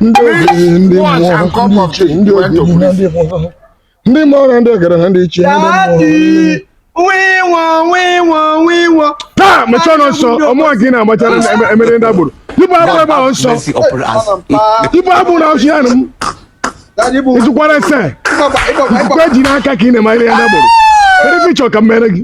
ndị ogbenye ndị mmụọ ndị ichie ndị ogbenye na ndị mmụọ ndị mmụọ na ndị egede na ndị ichie ndị mmụọ taa mechaa ọnụ nsọ ọ mụwa nke ị na-agbachara emere ndị agboro ibu abụ ebe ahụ nsọ ibu abụ na ọsụ ya nụ m ịtụkwara ese ikwe ji n'aka ka ị na-emere ya ndị agboro kedu ife ị chọ ka m mere gị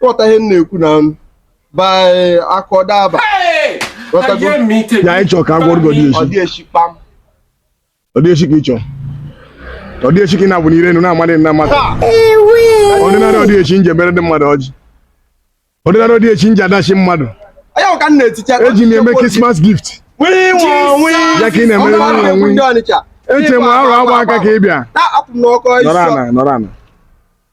ghọta ihe m na-ekwu na m by akọdaba ghọtago ya ị chọrọ ka a gwọọrọ gị odeshi odeshi kpam odeshi ka ị chọrọ odeshi ka ị na-abụ n'ire enu na-amadị nna mmadụ ordinary odeshi m ji emere ndị mmadụ ọjị ordinary odeshi m ji adash mmadụ onye ahụ ka m na-eticha eji m eme Christmas gift wii nwa wii ya ka ị na-emere Ọnụ nwunye ahụ nwunye ndị Ọnịcha. eche m arụ agba aka ka ị bịa Na-apụ m n'ọkọ nọrọ isi. ana nọrọ ana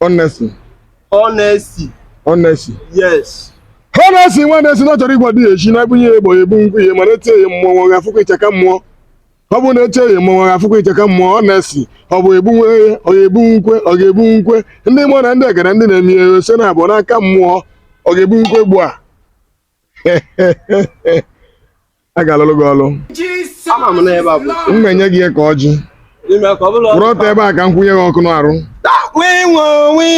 Honestly. Honestly. Honestly. Yes. Honestly nwa na-asị na ọ chọrọ ịgwọ odeshi na ebunye ya egbo ebu nkwe ihe mana etie ya mụwa ga-afụkwa icheka mmụọ ọ bụrụ na etie ya mụwa ga-afụkwa icheka mmụọ honestly ọ bụ egbu nwe ya ọ ga-ebu nkwe ọ ga-ebu nkwe ndị mmụọ na ndị egede ndị na-eme ihe ose na abụọ n'aka mmụọ ọ ga-ebu nkwe gbu a a ga-alụlụ gị ọlụ Ama m na ebe a bụ m na-enye gị ya ka ọjị ime ka ọ bụla kwụrụ ọtọ ebe a ka m kwụnye gị ọkụ n'arụ wee nwe onwe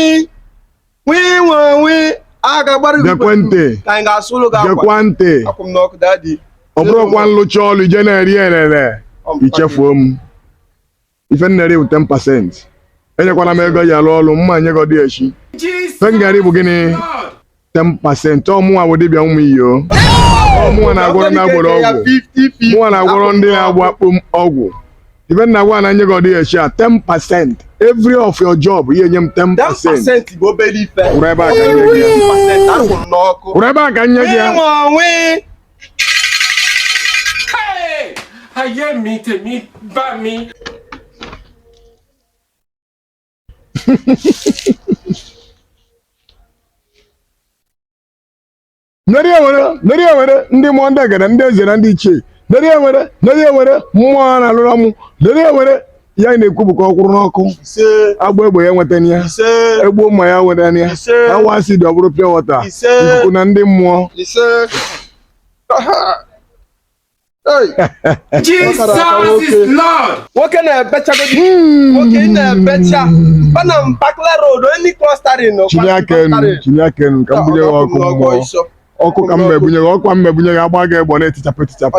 wee nwe onwe a ga-agbara gị Gekwe ntị. ka anyị ga-asụrụ gị akwa gekwa ntị akwụ m n'ọkụ dadi ọ bụrụkwa m lụchaa ọlụ i je na-eri elele i chefuo m ife m na-eri bụ 10 percent enyekwala m ego ji arụ ọrụ mma nye gị odeshi ife m ga-eri bụ gịnị 10 percent ọ mụnwa bụ dibịa ụmụ iyo ọ mụnwa na-agwọrọ ndị agboro ọgwụ mụnwa na-agwọrọ ndị na-agba kpom ọgwụ ife m na-agwa na nye gị odeshi a 10 percent every of your job i nye m 10 percent 10% bụ obere ife kwụrụ ebe a ka nye gị ya 10% akwụrụ n'ọkụ kwụrụ ebe a ka nye gị ya Ịnwe onwe Hey! Ayé mi tèmi bá mi. Neri enwere neri enwere ndị mmụọ ndị egede ndị eze na ndị ichie neri enwere neri enwere mmụọ a na-alụrụ mụ neri enwere ya na-ekwu bụ ka ọ kwụrụ n'ọkụ agba egbe ya enwetana ya egbuo mma ya enwetana ya awa acid ọ bụrụ pure water ikuku na ndị mmụọ Jesus is Lord. Nwoke na-ebechago hmm. nwoke na-ebecha bana m Bakla Road onye klọstari nọ. Chinie aka enu chinie aka enu ka m bunye gị ọkụ mmụọ ọkụ ka m mebunye gị ọkụ ka m mebunye gị agba gị egbe ọ na-etichapụ etichapụ.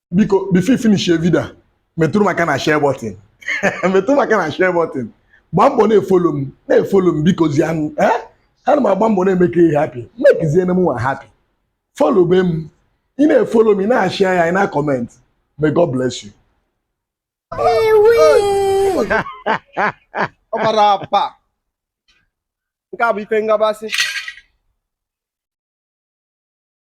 biko before ị finish your video metụrụ maka na share button metụrụ maka na share button gbaa mbọ na-efolo m na-efolo m bikozianụ eh? ana m agba mbọ na-eme ka ị happy mekizie na m nwa happy follow be m ị na-efolo m ị na-share ya ị na-comment may God bless you ọ gbara apa nke a bụ ife ngabasị